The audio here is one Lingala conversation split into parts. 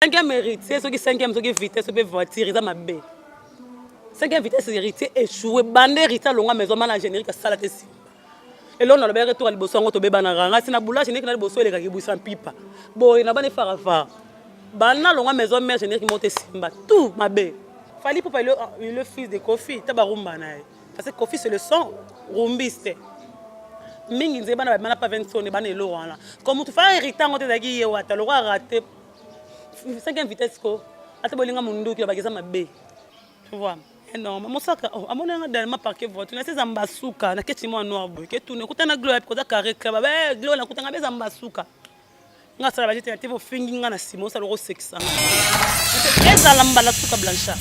cinquième héritier soki cinquième soki vitesse mpe voiture eza mabe cinquième vitesse héritier échoué bande héritier alonga maison mana générique asala te nsima eloko nalobelaki toka liboso yango tobebanaka ngasi na boula générique na liboso elekaki busa mpipa boye na bana efarafara bana nalonga maison mère générique moko te simba tout mabe fali pupa le fils de kofi ta barumba na ye parce que kofi c'est le son rumbiste mingi nzeye bana babima na pa 20 sone bana eloko wana ko motu faa hérite yango te ezalaki ye wata lokola rate cinquième vitesse ko ata bolinga munduki ya bakeza mabe tu vois eh non mosaka oh, amoni yanga dernièrement parquet voiture nasi eza mbasuka naketi mwa noir boye ketuna ekuta na gloire koza carré club abe eh, gloire nakutanga mpe eza mbasuka nga asala bajete na te bofingi nga na nsima osala okosekisa nga ezala mbala suka blanchard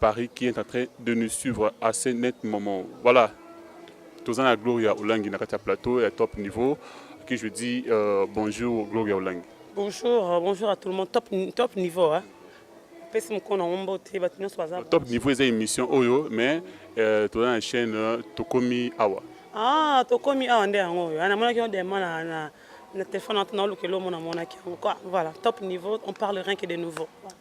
Paris qui est en train de nous suivre à ce net moment. Voilà, toza na Gloria Olangi na kati ya plateau ya top niveau qui je dis euh, bonjour Gloria Olangi. Bonjour, euh, bonjour à tout le monde. Top, top niveau hein. Pesi moko na ngombo te bato nyonso baza. Top niveau eza émission oyo mais euh, toza na chaîne euh, tokomi awa. Ah, tokomi awa nde yango oyo. Ana monaki yo dema na na na téléphone na olukela omona monaki yango. Voilà, top niveau, on parle rien que de nouveau. Voilà.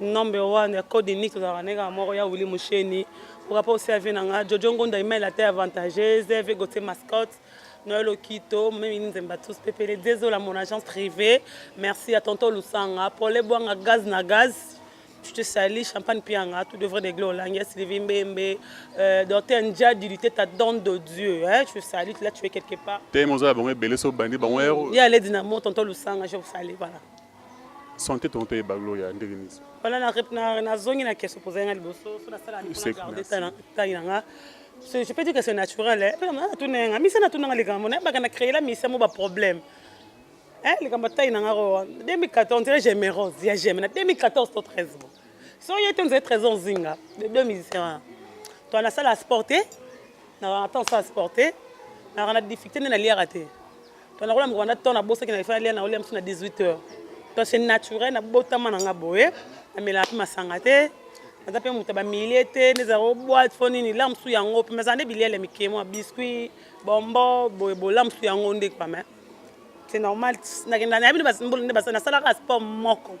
number one ya code unique tozalaka ndenge kaka moko ya wili musheni pokapa osi ave na nga jojo ngonda email ata avantageuse ave gotie mascotte noel okito momemi nzemba tous pepele dezola mon agence privée merci ya tonton lusanga pole bwanga gaz na gaz je te salis, Champagne Pianga, tout devrait régler au Langues, Sylvie Mbembe, euh, Dorothée Ndjadi, du ta donne de Dieu, hein, je te salue, là tu es quelque part. T'es mon zala, bon, belé, so, bandi, bon, héros. Il y a les dynamos, tonton Lusanga, je vous salue, voilà. Santé tonto yeba gloria ndenge nini so. Wana na na na zongi na question poser nga liboso so na sala ni pona garder tana tana nga. C'est je peux dire que c'est naturel. Eh, pela na tuna nga misa na tuna nga likambo na baka na créer la misa mo ba problème. Eh likambo tana nga ro 2014 tire j'aime rose ya j'aime na 2014 to 13 bon. So yo te nzé 13 ans zinga de deux musiciens. Toi na sala sporter na attend ça sporter na na difficulté na liara te. to nakola mokolo na temps nabosaki na efali na olia mosusu na 18 heures to c'est naturel nabotama na nga boye namelaka mpe masanga te naza mpe moto ya bamilie te nezala o boite fo nini la mosusu yango mpe mazala nde biliele mike mwa biscuit bombo boye bola mosusu yango nde kwa mais c'est normal nakenda nayebi nde nasalaka sport moko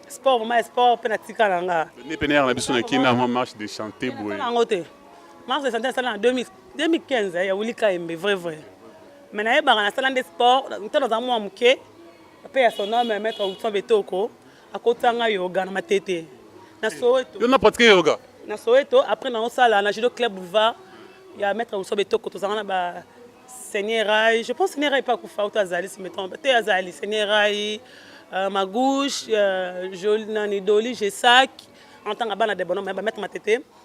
sport vraiment sport mpe natika na nga nde pene yaka na biso na kina mwa marche de chanté boye yango te marche de chanté asala na 2000 2015 ya Willy Kaembe vrai vrai mais nayebaka nasala nde sport ntango nazala mwa moke mpe ya son homme maître Wilson Betoko akotisa ngai yoga na matete na Soweto yo na pratique yoga na Soweto après naosala na judo club boulevard ya maître Wilson Betoko tozalaka na ba Seigneur Rai, je pense Seigneur Rai pas kufa ou azali si me trompe, te azali Seigneur Rai, euh, ma gauche, euh, Jolie Nani Doli, Gesac, en tant que bana de bonhomme, ba mettre ma tete.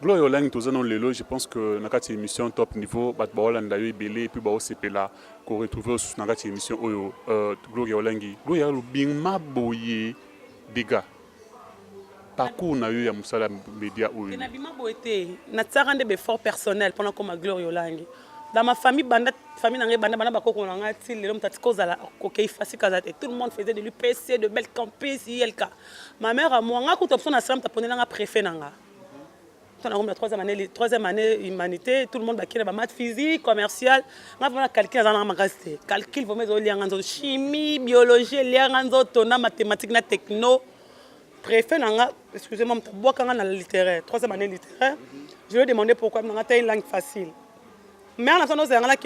Gloria Olangi toza no lelo je pense que na kati émission top niveau bato baolanda yo ebele epuis baosepela koretrouve osusu na kati émission oyo euh, Gloria Olangi Gloria lobima boye dega parcours na yo ya mosala média oyo nabima boye te natiaka nde beffort personnel mpona koma Gloria Olangi dans ma famille banda famille na ngai banda bana bakoko na ngai ti lelo moto atika ozala kokei fasika aza te tout le monde faisait de l'UPC de belle campus ilk Ma mère à moi, nga kuta biso na slam taponela nga préfet na nga. Tona ngomba troisième année, troisième année humanité, tout le monde bakina ba maths physique, commercial. Nga vraiment calcul azana nga makasi te. Calcul vraiment ezo lianga nzo chimie, biologie, lianga nzo tona mathématique na techno. Préfet na nga, excusez-moi, mtabwaka nga na littéraire, troisième année littéraire. Je lui ai demandé pourquoi, na nga ta une langue facile. mais ana sano ozalanga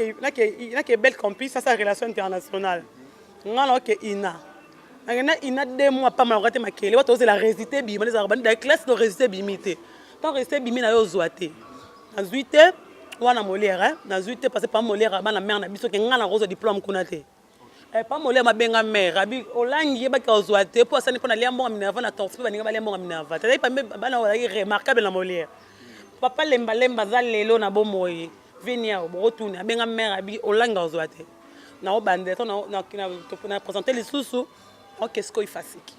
nake bel campus asa relation internationale nga naoke ina nakenda ina de mois pamba nakoka te makele wato ozela resite bima ezalaka bandi da classe no resite bimi te ntango resite bimi na yo ozwa te nazwi te wana molere nazwi te parce que pa molere abana mare na biso ke nga nakozwa diplome kuna te Eh, pa mole mabenga mère abi olangi yebaki ozwa te mpo asani mpo nalia mbongo minerva na torse mpe baninga balia mbongo minerva tazali pambe bana oyo bazalaki remarquable na molière papa lembalemba aza lelo na bomoi viniao bokotuni abenga mère abi olangi ozwa te naobandela to na présente lisusu oke sikoyo ifasiki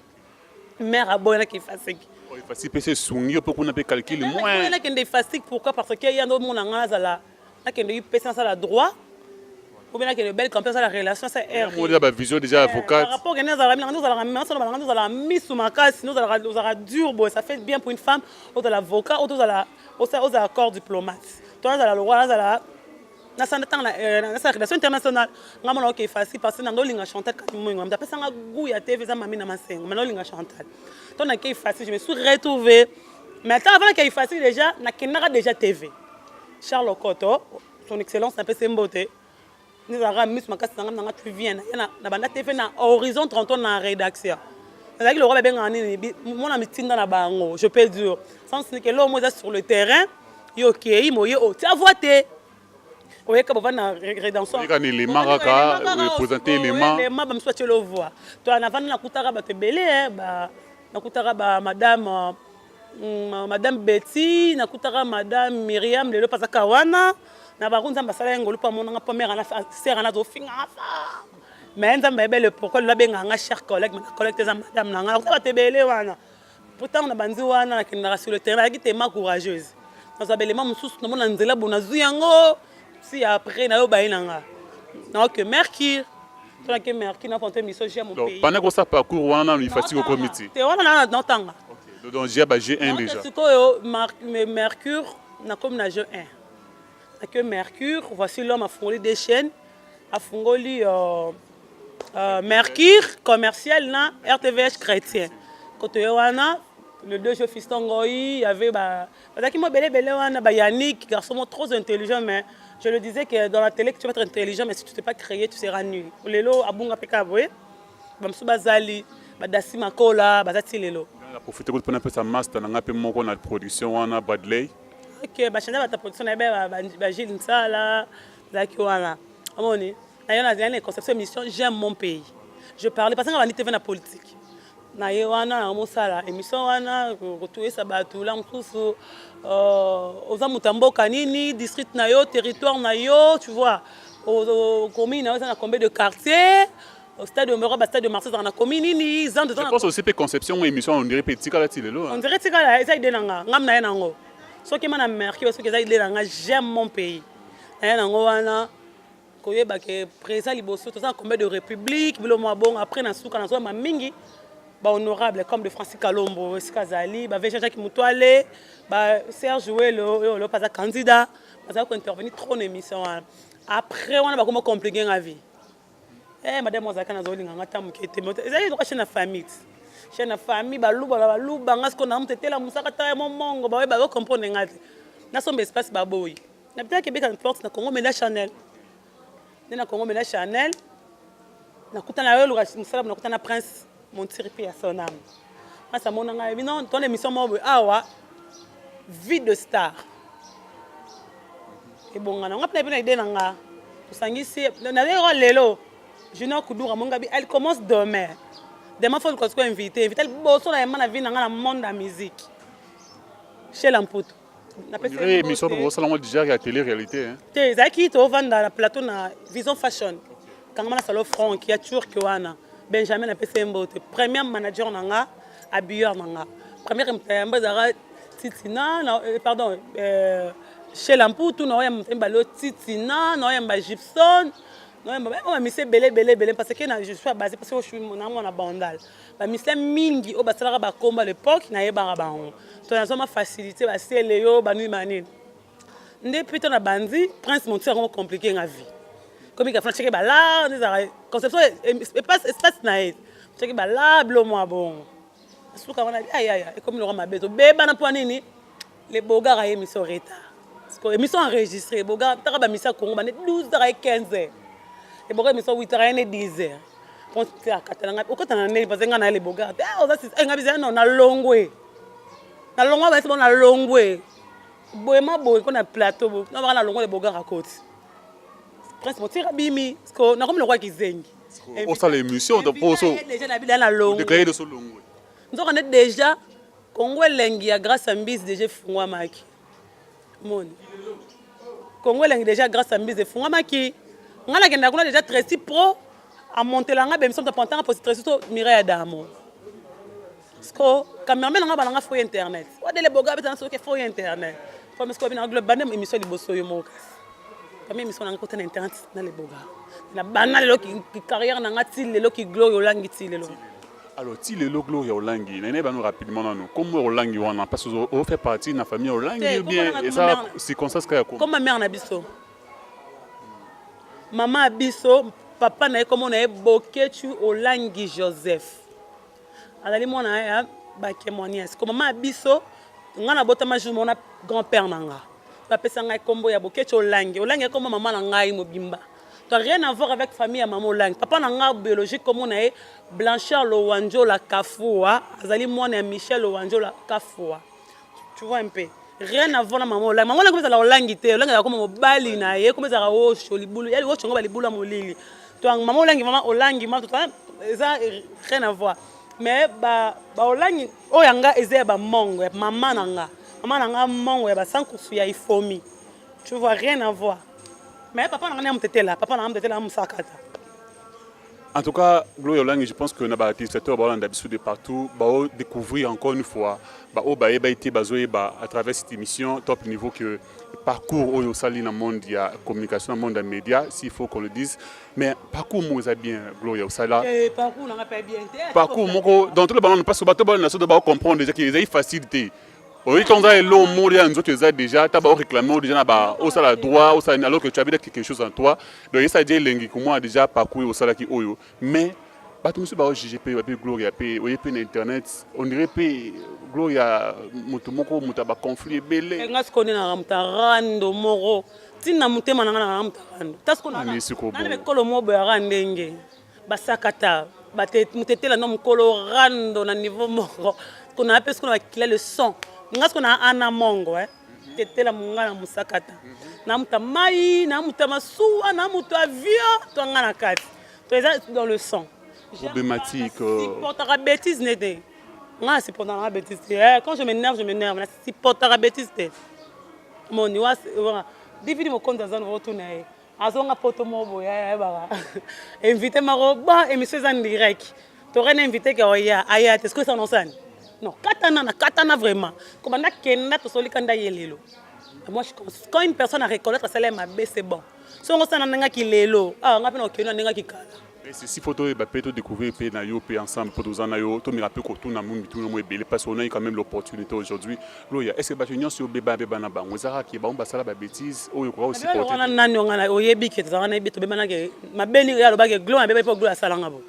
mère aboyanaki ifasiki oh, ifasiki mpe se esungi yo mpe kuna mpe calcule moinakende ifasiki pourquoi parce que ye ando omona ngai azala nakende UPC nasala droit ou bien nakende belle campagne asala relation sa rmona bavision déjà eh, avocate rapport okende azalaka minanga ozalaka masolo balanga ozalaka misu makasi ozalaka ozalaka dur boye ça fait bien pour une femme ozala avocat oto ozala ozala corps diplomate to nazala lokola nazala nasala ntango eh, nasala relation internationale nga mona oke facile parce que nanga olinga chantal kati moingo mamta apesanga gout ya tv eza mami na masengo mana olinga chantal to nakei facile je me suis retrouvé mais ata avant nakei fasi deja nakendaka deja tv charles okoto son excellence napesi mbote nizalaka miso makasi na ngai nanga tu vien na banda tv na horizon 30 na rédaction nazalaki lokola babengaka nini mona mitinda na bango je peux dire sans nike loo mo eza sur le terrain yo okei moye otia voi te oyeka bovandi na redentionyeka na elema kaka epresente elema elema bamisu batye lovwa to navandi nakutaka bato ebele eh, nakutaka ba madame mm, madame betty nakutaka madame miriam lelo mpe azaka wana na bango nzambe asala ye ngolu mpo amonanga mpo mère sere ana azofingaka sa mais nzambe ayebele pourkoi lelo abengaka nga cher collègue mena collègue te eza madame na nga nakuta bato ebele wana mpo ntango na banzi wana nakendaka sur le terrain nayaki tema courageuse nazwa belema mosusu namona nzela bo nazwi yango si après nayo baye na nga naoke mercure tonake mercure nafonto émission jia mopana kosa parcours wana nano ifati kokomiti te wana nana naotanga donc jia ba jeu 1 déjà sikoyo mercure nakomi na jeu 1 nake mercure voici l'homme afungoli des chaînes afungoli euh, Euh, Mercure commercial na RTVH chrétien kotoye wana le deux jeux fiston ngoi y avait ba bazalaki mwa belebele wana ba yannick garçon mo trop intelligent mais je le disais que dans la télé tu vas être intelligent mais si tu t'es pas créé tu seras nul lelo abunga mpe kaka boye bamosusu bazali badasi makola baza ti lelo profite kutu mpona pesa master na ngai mpe moko na production wana bradley ok bachanda bata production na ye ba gile nsala zalaki wana omoni nayo na zali na conception émission j'aime mon pays je parle parce que nga bandi TV na politique na ye wana na mosala émission wana kotuesa bato la mosusu euh, oza moto ya mboka nini district na yo territoire na yo tu vois commune na yo eza na combien de quartier au stade omero ba stade de marseille ezalaka na commune nini zando je pense aussi mpe conception ngo émission on dirait mpe etikala ti lelo on dirait etikala eza ide na nga ngam na ye nango soki ma na merki soki eza ide na nga j'aime mon pays na ye nango wana koyeba ke presa liboso toza na combien de république bilo mwa bongo après na suka na zoyamba mingi ba honorable comme de francis kalombo esika azali ba veja jacques mutuale ba serge welo oyo lopa aza candidat bazali kointervenir trop na émission wana après wana bakoma compliqué nga vie eh madame ozalaka nazolinga nga ta moke te ezali loka chaine na famille chaine na famille baluba na baluba nga sikoyo na motetela mosaka ta ya momongo baoye bazo comprendre nga te nasomba espace baboyi Na beta kebeka na porte na Congo mais na Chanel. Nde na Congo mais na Chanel. Nakutana na yo loka mosala na kutana Prince Montiri pe ya son âme. Prince amona ngai bino ton émission moko awa vie de star. Ebongana ngai pe na idée na nga. Tosangisi na lelo lelo Junior Kudura Mongabi elle commence demain. Demain faut qu'on soit invité, invité bosso na yema na vie na nga na monde ya musique. Chez Lamputo. émission to bosala ngo déjà ya télé réalité hein te ezalaki tovanda na plateau na vision fashion kangama na salo frank ya turc wana benjamin apesa ye mbote premier manager na nga habilleur na nga première moto ya yamba ezalaka titina na euh, pardon euh, chez lamputu na oyamba moto ya mibale titina na oyamba gibson na oyamba bamise ebele ebele ebele parce que na je suis abase parce que na mwana bandal bamisien mingi oyo basalaka bakomba lepoke nayebaka bango to nazwa mafacilité basiele yo banini banini nde mpe to na bandi prince monti yango komplike nga vie komi kafana ceke bala nde ezalaka conception espace na ye ceke bala bilo mwa bongo suka wana ayaya ekomi loka mabe tobebana mpo nini Le Bogar a émission retard. Siko émission enregistrée. Bogar taka ba misa Congo bande 12h et 15h. Le Bogar émission 8h et 10h. Quand tu as katalanga, au kotana neli parce que nga na le Bogar. Eh oza sis, eh nga bizana non na longwe. Na longwe ba sebo na longwe. Boema boye ko na plateau bo. Na ba na longwe le Bogar à côté. Prince Motira bimi, siko na komi lokwa kizengi. Osala émission ta poso. Déjà na bilana longwe. Déclarer de so longwe. Nzoka ne déjà Congo elengi ya grâce à mbisi deja efungwamaki moni Congo elengi deja grâce à mbisi efungwamaki ngai nakenda kuna deja Tracy pro amontela ngai bemission tapantanga posi Tracy to Mireille Adamo siko cameraman nanga bana ngai fo internet wadele boga abetana soki fo internet po misiko bina globe bande émission liboso yo moko kasi kami émission nanga kota na internet na leboga na bana lelo ki carrière nanga ti lelo ki gloria olangi ti lelo Alors ti lelo Gloria Olangi na nayeba no rapidement nanu kombo ya Olangi wana parce que o fait partie na famille Olangi Te, ou kombo bien nanga eza kombo nanga. circonstance kaka ya kombo Comme ma mère na biso. Maman ya biso, papa na ye kombo na ye Boketshu Olangi Joseph. Azali mwana ya Bakemwanias. Ko maman ya biso, nga nabotama jour moko na grand-père na nga. Bapesa ngai kombo ya Boketshu Olangi. Olangi ya kombo maman na ngai mobimba. Tu as rien à voir avec famille ya maman Olangi. Papa na nga biologique comme on est Blanchard Lowanjola Kafua, azali mwana ya Michel Lowanjola Kafua. Tu vois un peu. Rien à voir na maman Olangi. Maman Olangi comme ça la Olangi te, Olangi ya koma mobali na ye, comme ça la osho libulu. Yali osho ngoba libulu ya molili. To maman Olangi maman Olangi ma to eza rien à voir. Mais ba ba Olangi oyo nga eza ya ba mongo ya maman na nga. Maman na nga mongo ya ba sankusu ya ifomi. Tu vois rien à voir. Mais papa na ngai amutetela, papa na ngai amutetela amusakata. En tout cas, Gloria Olangi, je pense que na ba téléspectateurs ba Hollande biso de partout, ba découvrir encore une fois ba o ba eba été bazo eba à travers cette émission top niveau que parcours oyo sali na monde ya communication na monde ya média s'il faut qu'on le dise mais parcours mo eza bien Gloria osala eh, parcours na pas bien parcours moko dans tout le ballon parce que bato ba na so ba comprendre déjà que eza facile te oyebi ntango ozala eloo moko deja na nzoto eza deja ata baoreklame o deja na ba osala droit osala nini alors que tu as quelque chose en toi donc esa deja elengi komona deja parcours osalaki oyo mais bato mosusu baojuge mpe bape gloria mpe oye mpe na internet ondire mpe gloria moto moko moto ya baconflit ebele eh, nga sikoyo nde nanga moto arando moko ntina motema nanga nanga moto arando tasikolo moko boyaka ndenge basakata mutetela no mukolo rando na niveau moko kuna ape sikoyo bakila le son nga sikoyo na ana mongo eh tetela monga na mosakata na moto ya mai na moto ya masuwa na moto ya avion to nga na kati to eza dans le sang problématique euh. supportaka bêtise ne te nga na supportaka nga bêtise te eh, quand je m'énerve je m'énerve na supportaka bêtise te moni wa dividi mokonzi aza nova otuna ye azonga poto moko boye ayebaka invité mako ba émission eza direct tokai na invité ke oya aya te soki esanosani non katana na katana vraiment kobanda kenda tosoli kanda ye lelo moi je pense quand une personne a reconnaître asala ye mabe c'est bon so yango osana ndengaki lelo awa ah, ngai mpe na okendo na ndengaki kala Ceci faut toyeba pe to découvrir pe na yo pe ensemble po toza na yo tomeka pe kotuna mo mituna mo ebele parce qu'on a eu quand même l'opportunité aujourd'hui loya est ce que bato nyonso yo beba beba na bango eza kaka ke bango basala ba bêtise oyo okoka kosupporte wana nani ongana oyebi ke tozalaka na yebi tobebana ke mabe nini ya alobaki glo mabe po glo asalanga bo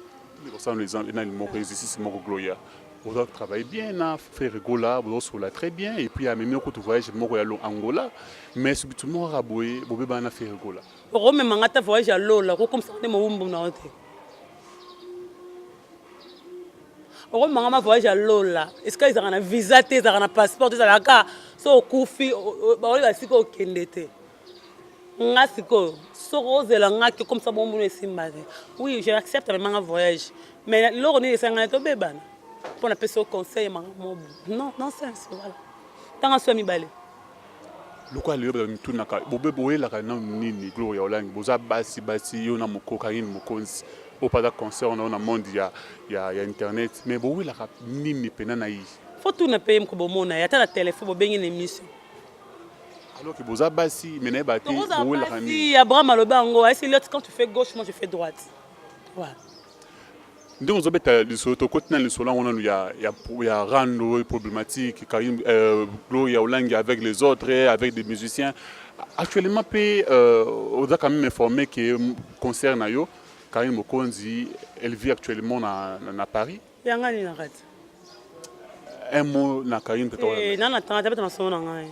kosala exemple nani moko exercice moko gloya bozo travaille bien na frère gola bozosola très bien et puis amemi okutu voyage moko ya angola mais soki tumoko kaka boye bobebana na frère gola okomema nga ata voyage ya lola okokomisaka nde mowumbu na yo te okomema nga ma voyage ya lola esika ezalaka na visa te ezalaka na passeport ezalaka so okufi baoyo basika okende te nga sikoyo soki ozela nga ke komisa bombu no esimba te oui je accepte mema nga voyage mais eloko nini esangani tobebana mpo napesi yo conseil makambo nonsense voilà ntango aso ya mibale Lokola lelo bato bamitunaka bobe boyelaka nanu nini Gloria Olangi boza basi basi yo na moko Carine Mokonzi oyo mpe aza concert na yo na monde ya, ya, ya internet mais bowelaka nini mpena na ye Faut tuna mpe ye moko bomona ye ata na telefone bobengi na emission alors que boza basi mais na ye bate tokozala bowelaka nini basi abraham alobi yango esi lot quand tu fais gauche moi je fais droite ouais. ndenge ozobeta lisolo tokoti na lisolo yango nanu ya, ya, ya rando oyo problématique karim euh, gloria olangi avec les autres avec des musiciens actuellement mpe euh, oza quand même informé que concert na yo karine mokonzi elle vit actuellement na, na, na paris yanga nini na kati un mot na karine mpe eh, nana tanga tabeta masolo na ngai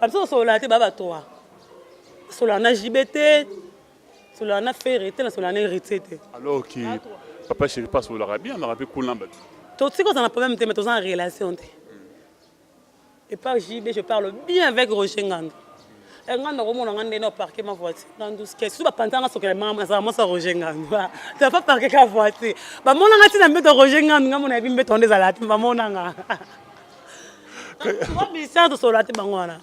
Abso solola te baba toa. Solola na JB te. Solola na Ferre te na solola na Héritier te. Alors que papa chéri pas sololaka bien na pe kuna ba. To siko za na problème te mais to za en relation te. Et par JB je parle bien avec Roger Ngando. Et eh, Ngando komona nga ndene au parquet ma voiture. Ngando ske sous ba pantanga sokela mama za mama sa Roger Ngando. Ba ta pas parquer ka voiture. Ba mona nga tina mbeto Roger Ngando nga mona bi mbeto ndeza la tima mona nga. Ministère de Solate Bangwana.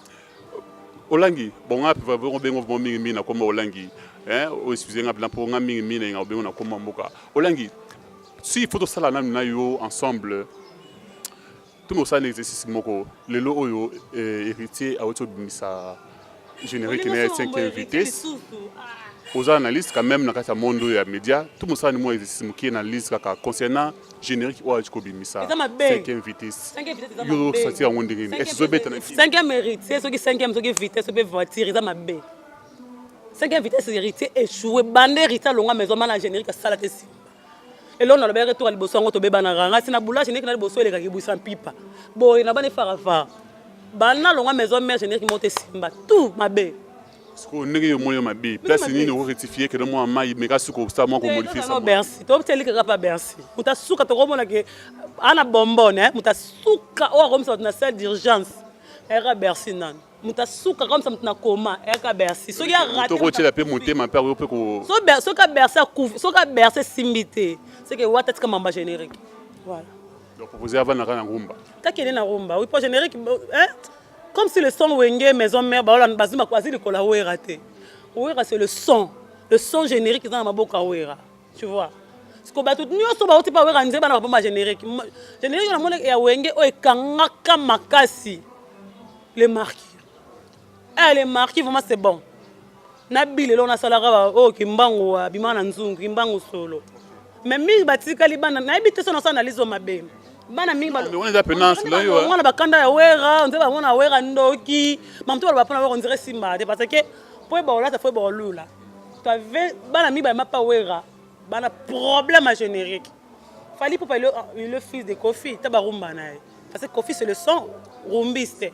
Olangi, bon, on a besoin mingi mingi na kombo Olangi. Hein, o excusez nga blanc pour nga mingi mingi na besoin na kombo mboka. Olangi, si il faut tout ça là na yo ensemble. Tout mon ça exercice moko. Lelo oyo eh, héritier a auto bimisa. Générique na 5e vitesse. aux analystes quand même na kati ya monde oyo ya média to mosala nimo exercice moke na analyse kaka concernant générique oyo alaki kobimisa cinquième vitesse yo osanti yango ndenge nini esi ezobeta na cinquième héritier soki cinquième soki vitesse ope voiture eza mabe cinquième vitesse héritier échoué bande héritier alonga maison mana générique asala te nsima eloko nalobelaki toka liboso yango tobebanaka ngai si na boulage ndeki na liboso eleka kibwisa mpipa boye na bana efarafara bana nalongwa maison mère générique moto esimba tout mabe sikoyo ndenge yo moyo mabe place nini okorectifie kede mwa mai meka suka osala mwa komodifibercy tobeteli kaka pa bercy moto asuka tokomona ke ana bombone moto asuka oyo akomisa bato na salle d'urgence eka bercy nani moto asuka kaka moto na koma eyaka bercy soki tokotyela mpe motema mpe akoki mpe soki bercy akufi soki bercy esimbi te seke wata tika mamba générique voilà donc propose avanda kaka na rumba takende na rumba oui po générique hein comme si le son wenge maison mère baola bazwi azwi likolo ya wera te wera c'est le son le son générique eza na maboko ya wera tu vois siko bato nyonso bauti mpa weka nzemba na babomba générique générique na moni ya wenge oyo ekangaka makasi le marquis eh, le marquis vraiment c'est bon na bilelo nasalaka oyo oh, kimbangu abima na nzungu kimbangu solo mais mingi batikali bana nayebi te so nasa analyse oyo mabe bana mingi bana bakanda ya wera nzemba yango na wera ndoki mamoto baloba mpo na wera ondire simba te parce que mpo ebaolata fo ebaolula bana mibale mapa wera bana problème ya générique fali popa le fils de kofi ta barumba na ye parce que kofi c'est le son rumbiste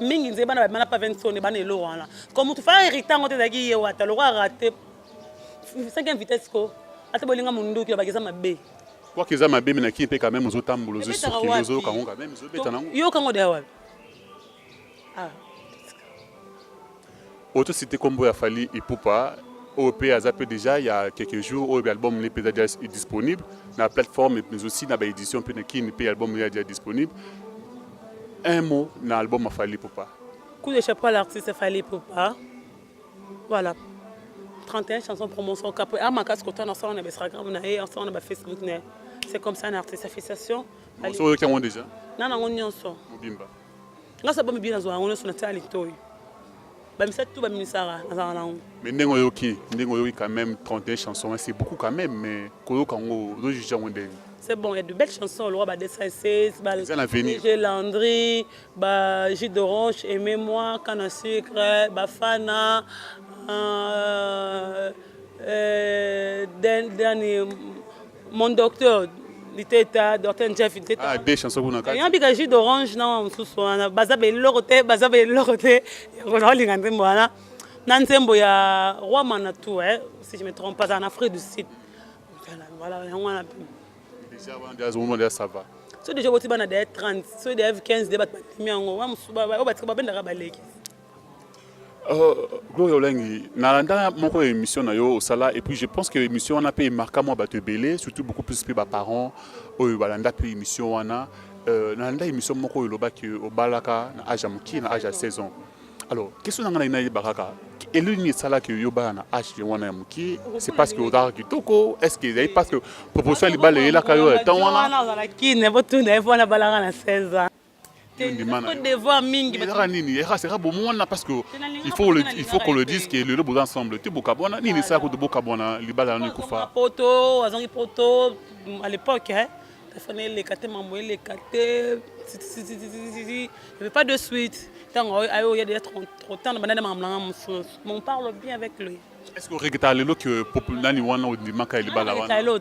mingi nzeye bana bana pa vinsone bana elo wana ko motu fala hérita yango te ezalaki ye wata loko arate cinquième vitesse ko ata bolinga monduki lobaki eza mabe kwaki eza mabe minaki mpe quand même ozotambola ozosoki ozoyoka yango quand même ezobeta nango yoka yango deya wapi Ah, oto cité kombo ya Fally Ipupa oyo pe aza pe déjà ya quelques jours oyo album ne peza déjà disponible na plateforme mais aussi na ba édition pe na kin pe album ya déjà disponible un mot na album ya Fally Ipupa coup de chapeau à l'artiste Fally Ipupa voilà 31 chansons promotion cap a makasi kota na sala na ba Instagram na ye ensemble na ba Facebook na c'est comme ça un artiste félicitations oyoki yango déjà na nango nyonso mobimba nga sa bomi bien nazwa yango nyonso natia litoi bamisatu to baminisaka nazala na yango mais ndenge oyoki ndenge oyoki quand même 31 chanson hein, c'est beaucoup quand même mais koyoka yango ozojuge yango ndenge c'est bon il y a de belles chansons le roi ba 216 ba j'ai Landry ba jus d'orange aimez moi canne à sucre ba fana euh, euh, dernier Mon docteur liteta docteur jeff liteta ah deux chansons kuna kati yambi ka jus d'orange na mususu wana baza ba eloko te baza ba eloko te yango na linga nzembo wana na nzembo ya roi manatu eh si je me trompe pas en Afrique du Sud voilà yango wana déjà wana déjà zomo déjà ça va so déjà boti bana déjà 30 so déjà 15 déjà batimi yango wa musuba ba batiko babendaka baleki Oh, Gloria Olengi, nalanda moko ya émission na yo osala et puis je pense que émission wana mpe emarka mwa bato ebele surtout beaucoup plus mpe baparents oyo balanda mpe émission wana euh, nalanda émission moko oyo olobaki obalaka na age ya mokie na age ya 16 ans alors question na ngai nayeba kaka eleli nini esalaki yo obala na age wana ya mokie c'est parce que ozalaka kitoko est ce que ezali parce que proposition ya libala eyelaka yo ya temps wana wana ozala kine botuna ye mpo wana balaka na 16 ans devoir mingi ezaka nini yaka seka bomwana parce que il faut le il faut qu'on le dise que lelo boza ensemble te bokabwana nini esala kutu bokabwana libala nano ekufa poto azangi poto à l'époque hein telefone eleka te mambo eleka te pas de suite ntango ayo ya deja trop temps na banda nde makambo nanga mosusu mon parle bien avec lui est ce que oreketa lelo que nani wana ondimaka libala wana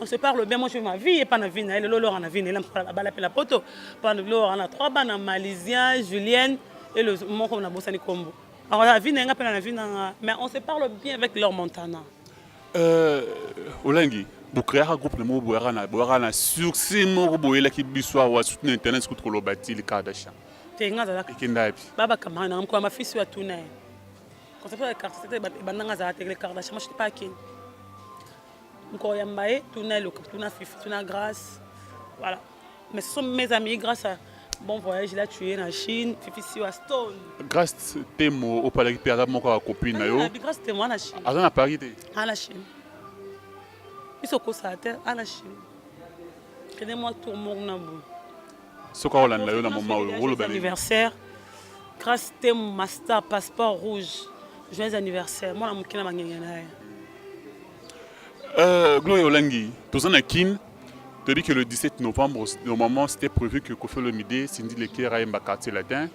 on se parle bien moi je ma vie epa na vie na ye lelo lora na vie na ye abala mpe na poto mpa lora na trois bana malisien julienne elo moko nabosani nkombo akola vie na ye nga mpe na vie na nga mais on se parle bien avec leur montana euh, olangi bokreaka groupe na moko boyaka na boyaka na succès moko boyelaki biso awa surtout na internet kutu koloba ti likardashan te nga azalaka ekenda yapi babakamaka na mokolo mafisi oyo atuna ye conception ya carte ebandanga azala te le cardashan machete pakeni Encore ya mbaye, tuna eloka, tuna fifi, tuna grâce. Voilà. Mais ce sont mes amis grâce à bon voyage là tu es na Chine, fifi siwa stone. Grâce temo au palaki pe aza moko ya copine na yo. Ah, grâce temo na Chine. Aza na Paris te. Ah na Chine. Biso kosa te, ah na Chine. Tenez-moi tour mon na boule. soki akolanda yo na moma oyo oloba anniversaire grace temu master passeport rouge joyeux anniversaire mwana moke na bangenge na ye euh, gloria olangi toza na kin toyebi que le 17 novembre normalement c'était prévu que kofi olomide sindi lekera ayemba quartier latin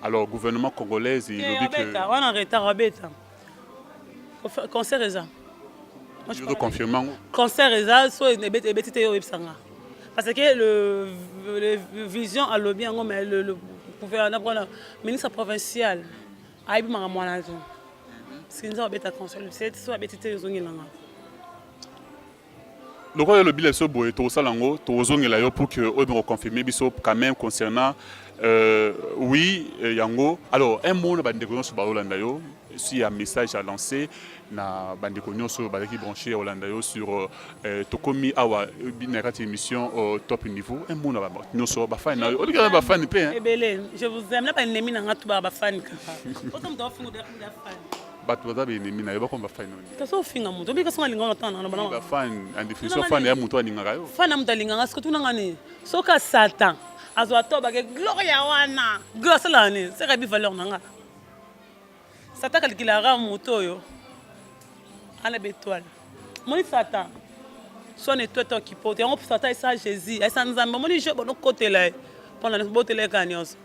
alors gouvernement congolaise elobi que wana retard abeta concert eza concert eza so ebeti te yo oyebisa nga parce que le, le vision alobi yango mais le, le gouverneur mpona ministre provincial ayebi makambo wana te sinza obeta concert so abeti te ozongela nga lokola olobi leso boye tokosala yango tokozongela yo pour que oyo bokoconfirme biso quand même concernant euh, oui euh, yango alors un mot na bandeko nyonso baolanda yo si ya message à lancer na bandeko nyonso oyo bazalaki branche ya olanda yo sur euh, euh tokomi awa euh, na kati émission euh, top niveau un mot na nyonso bafani na yo olingi na bafani mpe ebele je vous aime na banemi na nga tubaka bafani kaka bato baza ba ennemi na yo bakoma ba fan oyo kasi ofinga moto obi kasi nalingaka ntango na nabana ba fan en définition fan ya moto alingaka yo fan ya moto alingaka siko tuna nga nini soki asatan azwa to bake gloria wana glo asalaka nini seka yebi valeur na nga satan kalikilaka moto oyo ana betoile moni satan swana etwete okipote yango satan esa jésus esa nzambe omoni je bonokotela ye mpo na botela ye kaka nyonso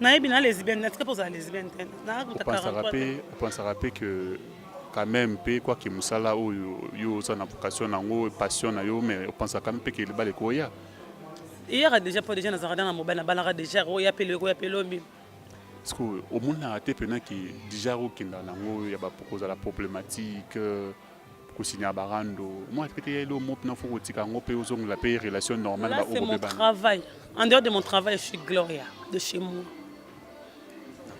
nayebi na lesbienne natika mpe ozala lesbienne te naopansaka mpe que quand même mpe kwaki mosala oyo yo oza na vocation na yango passion na yo mais opansaka mpe ke libala ekoya eyaka déjà mpo déjà nazalaka na mobali nabalaka déjà oya pelo ekoya pelo mbi sikoyo omonaka te mpena ke déjà okenda na yango ya kozala problématique kosinya barando moi pete ya elo mo pina foko tika ngo pe ozongela pe relation normale ba obo mon travail en dehors de mon travail je suis Gloria de chez moi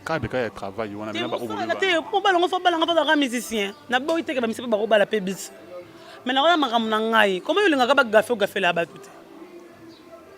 cadre kaka ya travail wana bina ba obo ba te po bala ngo fa bala ngo ba musicien na boyi teke ba misipe ba ko bala pe bis mais na wana makambo na ngai comment yo lingaka ba gafe o gafela ba tout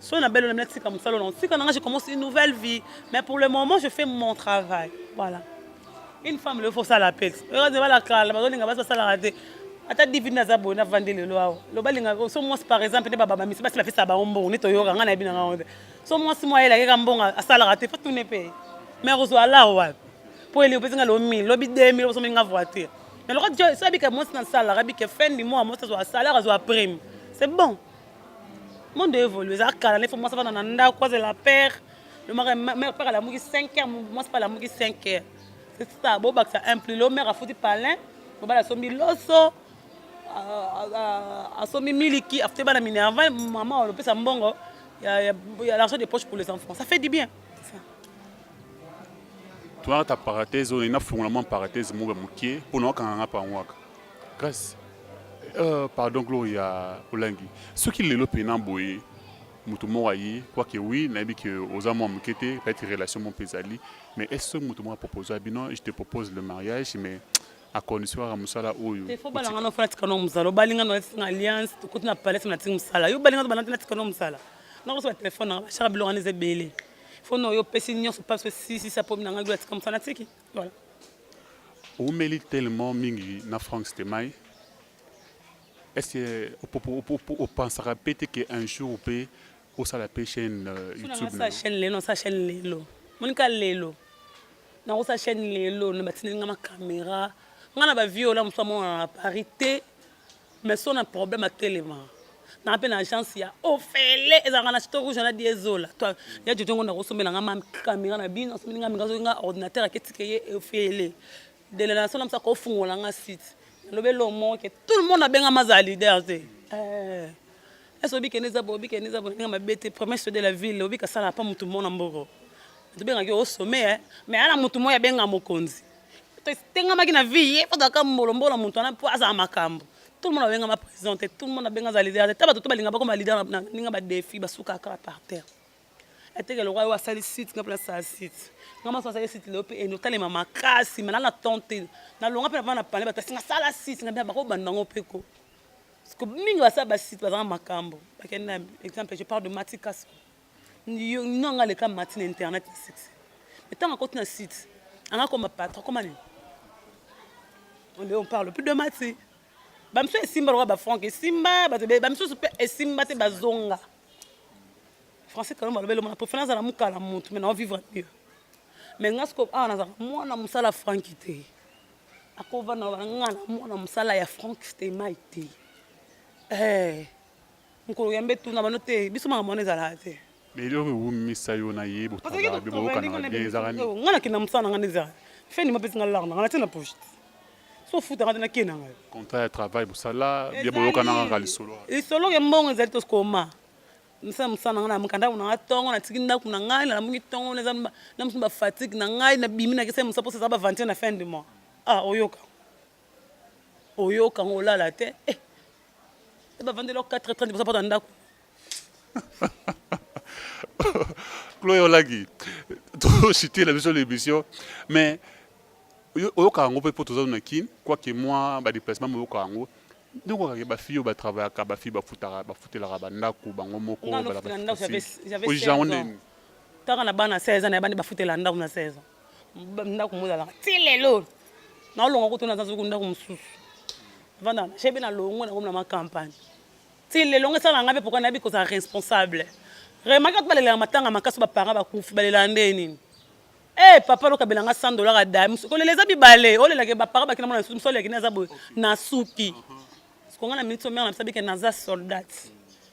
Soki na belle na tika musala na tika na nga je commence une nouvelle vie mais pour le moment je fais mon travail voilà une femme le faut ça la pex heureuse bala kala bazo linga basa sala raté ata divine aza boye na vandi lelo awa loba linga so mwasi par exemple nde bababa misi basi bapesa bango mbongo nde toyoka nga nayebi na nga ngo te so mwasi mwa yela yeka mbongo asalaka te fatune mpe mais kozwa alar wapi mpo eli opesi nga lo 1000 lobi 2000 obosomi nga voiture mais lokola so abika mwasi nasalaka abike fin du mois mwasi azwa salaire azwa prime c'est bon monde evolue eza kala nefo mwasi avanda na ndako azela père le mari mère père alamuki 5 heures mwasi mpe alamuki 5 heures c'est ça bobakisa un plus lo mère afuti palin mobali asombi loso asombi miliki afuti bana minerval mama olopesa mbongo ya l'argent de poche pour les enfants ça fait du bien toyaka ta paratese oyo nafungola mwa paratese moko ya moke mpo na wakanganga mpango waka Grace, euh, pardon Gloria Olangi, soki lelo pena boye moto moko aye quoique oui nayebi ke oza mwa moke te peut-être relation moko mpe ezali mais est ce soki moto moko apropose ya bino je te propose le mariage mais à condition kaka mosala oyo te fo bana nga nofana tika no mosala obali nga nolati na alliance tokoti na palais na tiki mosala yo obali nga tobana te na tika no mosala nakosoba telefone nanga bashaka biloko wana eza ebele fo no yo opesi nyonso mpasi osisisa mpo na ngai lola tika mosala natiki Voilà. Oumeli tellement mingi na Franck Stemay. Est-ce que au pensera peut-être qu'un jour peut au sala pe chaîne euh, YouTube na chaîne lelo sa chaîne lelo. Monika lelo. Na sa chaîne lelo na batindeli nga ma caméra. Nga na ba viola musamo à Paris te. mais so na problème atelema na pe na agence ya ofele ezalaka na chito rouge na diesola to ya jojo ngo nakosombela nga mami kamera na bino asombeli nga minga soki nga ordinateur aketike ye ofele dele na sona msaka ofungola nga site lobe lo moke tout le monde abenga ma za leader te eh est-ce que obikende za bo bikende za bo nga mabete premier chef de la ville obika sala pa mutu mona mboko tobengaki yo au sommet mais ala mutu moya benga mokonzi totengamaki na vie ye fotaka mbolombola moto wana mpo azala makambo tout le monde abengama président te tout le monde abenga aza leader te ta bato to balinga bakoma leader na ndenge badefi basuka kaka par terre ateke lokola oyo asali site nga mpe nasala site nga maso asali site lelo mpe ende otalema makasi malala na temps te nalonga mpe napana na pale bato asinga sala site nga mpe bakobanda yango mpe ko mingi basala basite bazanga makambo bakende exemple je parle de matikaso nino anga aleka mati na internet ya succès ntango akoti na site anga akoma patron akoma nini onde on parle plus de mati bamisusu esimba lokola bafrank esimba bamisusu mpe esimba te bazonga français kalomba alobeli mona pofana azala mokala motu mai nao vivre mieux mai nga siko awa nazala mwana mosala franki te akovanda nga na mwana mosala ya frank stemai te eh. Mukolo yambe tuna bano te biso makambo wana ezalaka te. Mais eloko ewumisa yo na ye botravaille be boyokanaka bien ezalaka nini? Nga nakenda mosala na nga nde ezalaka fin du mois apesi nga lar na nga natie na poche te so ofuta nga te nakei na ngai. Contrat ya travail bosala bien boyokanaka kaka lisolo wana? Lisolo ya mbongo ezali toskoma nasala mosala na nga nalamuka ndako na nga tongo natiki ndako na ngai nalamuki tongo naza na mosu ba fatigue na ngai nabimi nakesali mosala mposa eza ba aventure na fin du mois ah oyoka oyoka ngo olala te eh. bavandela 4h30 boza mpona ndako chloe olaki tositela biso na émission mais oyoka yango mpe mpo toza na kin quoique mwa badéplacement moyoka yango donc okake bafille oyo batravayaka bafille bafutelaka bandako bango moko ojango nini ntaka na bana 16 ans na yabani bafutela ndako na 16 ans ndako mozalaka ti lelo naolonga kutu naza soki ndako mosusu vanda na shebe na longo nakomi na macampagne ti lelo ngai esala ngai mpe pourkui nayebi kozala responsable remaki bato balelaka matanga makasi baparent bakufi balelaka nde nini e papa lokabela ngai 100 dollar ada kolela eza bibale olelaka bapara bakina mona nsusu mosalelaki nde aza boye nasuki sikonga na minute omere na bisabi ke naza soldate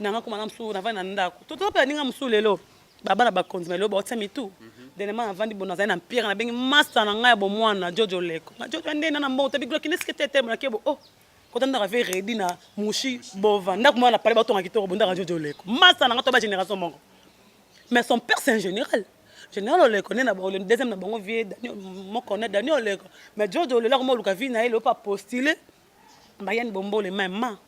na nga koma na mosusu navandi na ndako totala mpe baninga mosusu lelo babana bakonzi ma lelo baotia mitu denema navandi bono nazali na mpire nabengi masta na ngai ya bomwana jojo leko na jojo nde na na mbongo tabi gloki nde sikete te monake bo oh kota ndaka ve redi na mushi bova ndako mwana pale batonga kitoko bo ndaka jojo leko masta na ngai to ba génération moko mais son père c'est un général général oleko nde na le deuxième na bango vie moko na daniel oleko mais jojo lelo akoma oluka vie na ye lelo mpe apostule Ma Yann Bombole maman.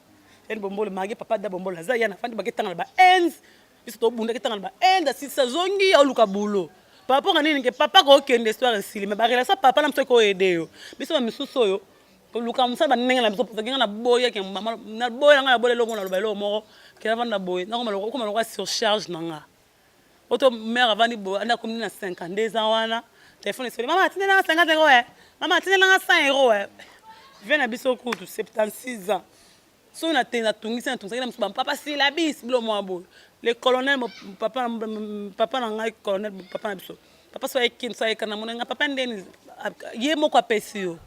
Yann Bombole mage papa da Bombole aza Yann afandi bake tanga na ba ends. Biso to bunda ke tanga na ba ends asisa zongi au luka boulot. Par rapport à nini ke papa ko kende histoire esili mais ba relation papa na mso ko aider yo. Biso ba misusu oyo koluka mosala bandenge na biso mposa ngenga naboyaki ya mama naboya ngai nabola eloko naloba eloko moko kela vanda boye nakoma lokola surcharge na nga Oto mère avandi boye anda komi na 52 ans wana telefone esoli mama atindela nga 50 euro eh mama atindela nga 100 euro eh vie na biso kutu 76 ans soki na te natungisi natungisaki na mosu bampapa silabis bilo mwa boye le colonel papa, papa na ngai colonel papa na biso papa so ayeki so ayekana mona nga papa ndeni ye moko apesi yo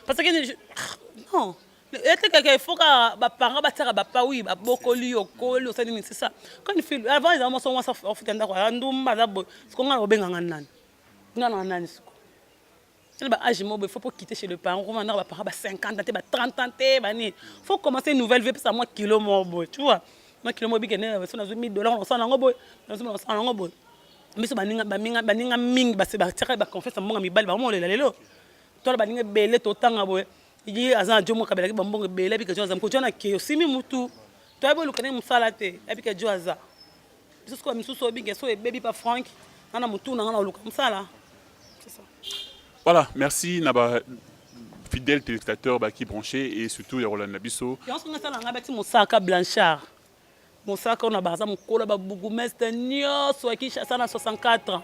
parce que ah, non etekeke faut ka baparent batiaka bapa wi babokoli yo okoli osali nini sisa kani fil avant ezala mwasi mwasi afuta ndako aza ndumba aza boye siko ngai nakobenga ngai nani ngai nanga nani siko tele ba age mobo faut pour quitter chez le parent koma ndako baparent ba 50 ans te ba 30 ans te bani faut commencer une nouvelle vie pesa mwa kilo moko boye tu vois mwa kilo moko bikende so nazwi 1000 dollars nakosala nango boye nazwi nakosala nango boye biso baninga baninga baninga mingi base batiaka ba confiance mbonga mibali bango molela lelo tola baninga ebele totanga boye ye aza na jomo kabelaki bambongo ebele abika jo aza mokoti wana ke osimi mutu to ayebi oluka ndenge mosala te abika jo aza biso sikoyo misusu obinga so ebebi pa frank nga na motu na nga na oluka mosala voilà merci na ba fidèle téléspectateur baki branché et surtout ya kolanda biso yanso nga sala nga bati mosaka blanchard Mosaka ona baza mokolo ba bourgmestre nioso ya Kinshasa na 64 ans.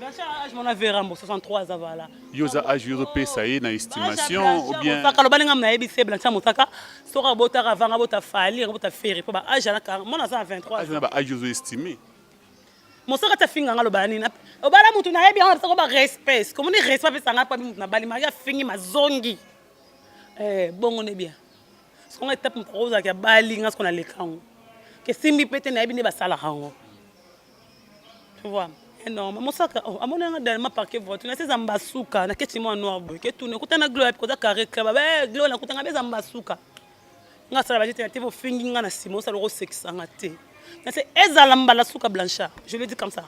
Bachar age mona verambo 63 aza vala. Yo za age yo pesa ye na estimation ou bien Mosaka lobani ngam na yebi se Blanchard Mosaka soka botaka vanga bota fali bota ferre po ba age na 40 mona za 23 age na ba age zo estimer mosaka ti afinga nga lobala nini obala motu nayebi yango napesako ba respect komoni respect apesa nga mpo abi motu nabali maki afingi mazongi eh, bongo nde bien songa etape mokoko ozalaki abali nga soko naleka yango kesimbi mpe te nayebi nde basalaka yango tu vois non mamosaka oh, amoni yanga dernièrement parke voiture nasi eza mbasuka naketi mwa noir boye ketuna ekuta na glo yapi koza carré club be eh, glo nakutanga be eza mbasuka nga asala bajete na te bofingi nga na nsima osala okosekisanga te nase ezala mbala suka blanchard je le dis comme ça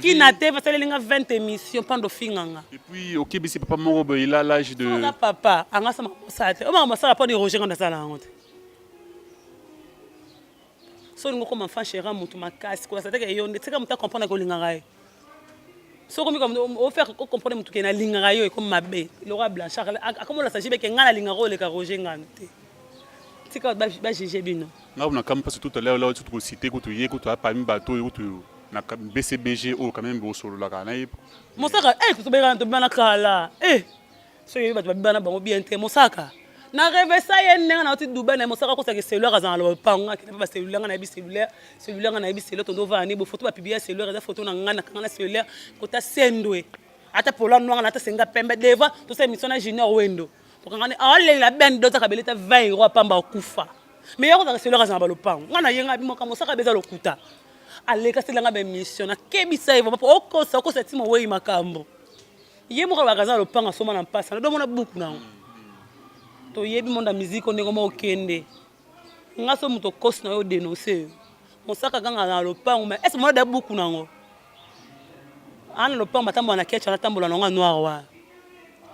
kina te basaleli nga 20 émission mpando ofinganga epuis okebisi papa moko boye ila lage de papa anga sama kosala te omaka masala mpo neroge nga nasala yango te so olingi okoma fan chera motu makasi kolasa teke yo nde tika motu acomprendre kolingaka ye soki omi ofaire ocomprendre motu ke nalingaka yo ekomi mabe lokola blanchard akomolasa jibe ke ngai nalingaka oleka roger ngano te tika bajuge bino ngai kuna kami mpasi tout à l'heure là tukosite kutu ye kutu apami bato oyo kutu na bcbg oyo quand même bosololaka na ye mosaka eh, tobelana tobana kala eh soki oyebi bato babiba na bango bien te mosaka na revesa ye ndenge nauti dubai na mosaka akosaka cellulaire azala na lopango akende mpe bacellulaire nga nayebi cellulaire cellulaire nga nayebi cellulaire tondo ovani bo foto bapiblia cellulaire eza foto na ngai nakanga na cellulaire kota sendwe ata pola noir na ata senga pembe devant tosala émission na junior wendo tokanga ne aolela ben doza kabele ta 20 euro apamba okufa mais ye akozaka cellulaire azala na balopango nga nayenga bimaka mosaka beza lokuta aleka selanga baémission nakebisa ye vraimen po okosa okosa ti mowei makambo ye moko alobaka aza na lopango asomba na mpasa na domona buku na yango toyebi monda miziki o ndenge mokende nga so moto okosi na yo denonse yo mosaka kanga na lopango ma ese mona da buku na yango ana lopango batambola na kecha natambola na yango ya noir wana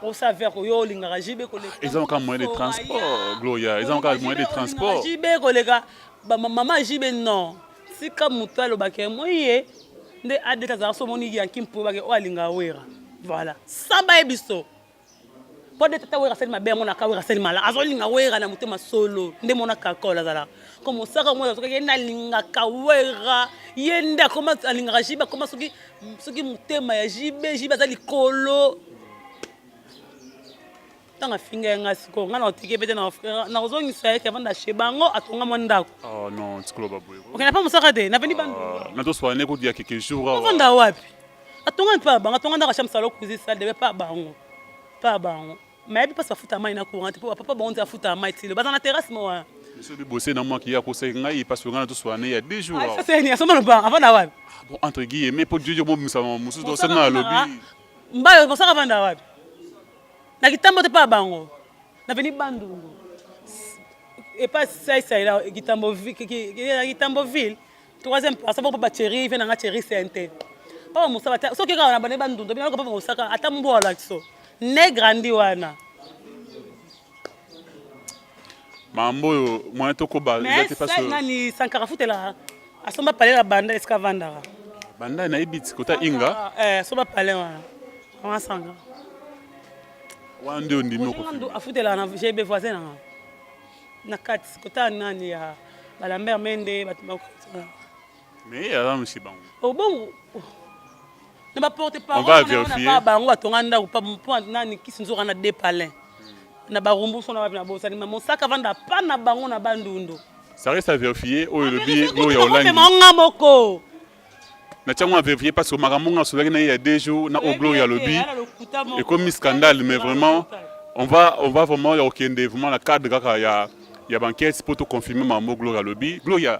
osa ver oyo olingaka jibe koleka eza maka moyen de transport gloria eza maka moyen de transport jibe koleka mama jibe non Tika moto aloba ke moye nde adet azala so omoni yanki mpo bake oyo alinga wera voilà samba ye biso mpo nde tata wera asali mabe yango naka wera asali mala azolinga wera na motema solo nde mona kakol azalaka ko mosaka mwana azokaki ye nalingaka wera ye nde akoma alingaka jibe akoma soki soki motema ya jibe jibe aza likolo ntango afinga ye ngai sikoyo ngai naotiki pete nakozongisa ye kevanda chez bango atonga mwa ndako ah, non tikoloba boye okenda mpe mosaka te napendi bandu ah, natoswana ne kudia keke jour awa ovanda wapi atonga mpe bango atonga ndako asham salo kuzi sale debe mpe bango mpe bango mayebi mpasi bafuta mai na courant te mpo bapapa bango nde afuta mai tilo baza na terrasse mo wana biso bibose na mwaki ye akosaki ngai mpasi oyo ngai natoswana ya deux jours ah, aseni asomba lobanga avanda wapi bon entre guillemets mpo jojo mobimisa mosusu tosana alobi mbayo mosaka avanda wapi na kitambo te pa bango na veni bandundu epa saisaila kitamboville troisième place boko baceri ve nanga ceri sente papa mosala te soki kaka na bane bandundu bino papa mosaka ata mbwa olakiso ne grandi wana mambo oyo moyen tokoba eza te parce que nani sankara futela asomba palais la banda esika vandaka banda nayebi ti kota inga eh asomba palais wana wana sanga wana nde ondimi okondo afutela na jb voisin nanga na kati kota nani ya balambert mende bato bakotana Mais aza no chez bango. Oh bongo. Na ba porte parole na ba bango atonga ndako pa mpo nani kisi nzoka na deux palais. Na ba rumbu sona wapi na bosani ma mosaka vanda pa na bango na bandundu. Ça reste à vérifier oyo lobi no ya olangi. Mais nga moko. na tiango avevie parce que makambo nga asolaki na ye ya deux jours na o gloria alobi ekomi scandale mais vraiment on va, on va vraiment ya kokende vraiment na cadre kaka ya ya banquete mpo toconfirme makambo gloria alobi gloria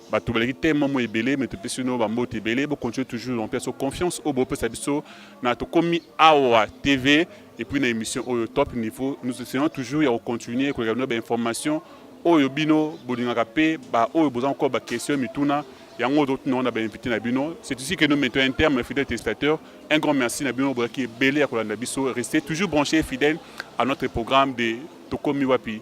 bato baleki te mwa mwa ebele me topesi bino bambote ebele bocontinue toujours na mpeso confiance oyo bopesa biso na tokomi awa tv epuis na émission oyo top niveau nous essayons toujours ya kocontinue koleka bino bainformation oyo bino bolingaka mpe baoyo boza nkoko baquestion mituna yango totuna wana bainvité na bino c'est ici que nous mettons un terme fidèle testateur un grand merci na bino bozalaki ebele ya kolanda biso reste toujours branché fidèle à notre programme de tokomi wapi